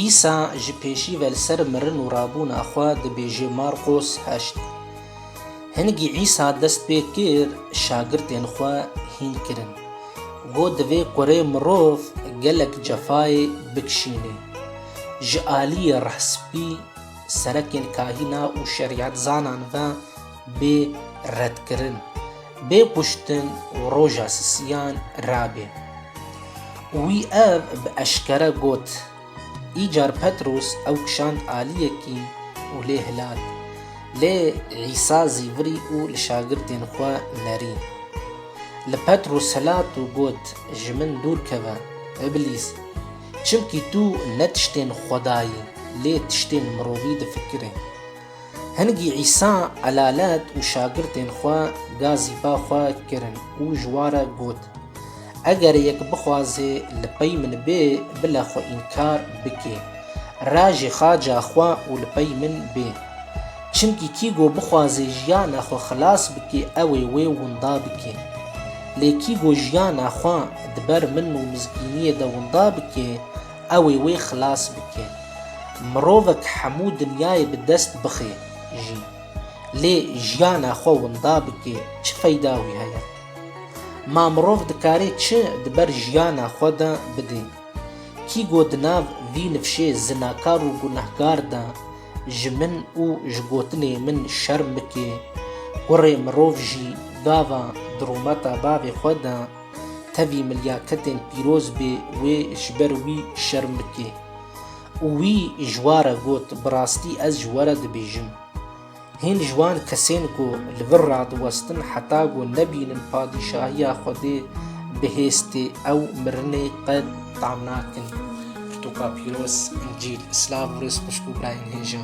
Îsa ji pêşî ve li ser mirin û rabûna xwe dibêje Marqos heşt. Hingî Îsa dest pê kir şagirtên xwe hîn kirin. Got divê kurê mirov gelek cefayê bikişînê. Ji aliyê rehspî, serekên kahîna û şerîetzanan ve, bê redkirin, bê kuştin û roja sisiyan rabê. Wî ev bi eşkere got. Îcar Petrûs ew kişand aliyekî û lê hilat. Lê Îsa zî virî û li şagirdên xwe nerî. Li Petrûs hilat û got, Ji min dûr keve, Îblîs! Çimkî tu ne tiştên xwedayî, lê tiştên mirovî difikirî. Hingî Îsa elalet û şagirtên xwe gazî ba xwe kirin û ji wa re got, Eger yek bixwaze li pey min bê, bile xwe înkar bike, rajê xaca xwe û li pey min bê. Çimkî kî go bixwaze jiyana xwe xilas bike ew ê wê winda bike. Lê kî go jiyana xwe di ber min û mizgîniyê de winda bike, Ew ê wê xilas bike. Mirovek hemû dinyayê bi dest bixe jî, lê jiyana xwe winda bike çi feyda wî heye? Ma mirov dikarê çi di ber jiyana xwe de bide? Kî got di nav vî nifşê zinakar û gunehkar de ji min û ji gotinê min şerm bike? Kurê mirov jî gava di rûmeta bavê xwe de, tevî milyaketên pîroz bê wê ji ber wî şerm bike. Û wî ji wa re got, Bi rastî ez ji we re dibêjim, hîn ji wan kesên ku li vir radiwestin heta ku nebînin padîşahiya Xwedê bihêztê ew mirinê qet tam nakin. Pirtûka pîroz, Încîl, Silav û rêz xwişk û birayên hêja.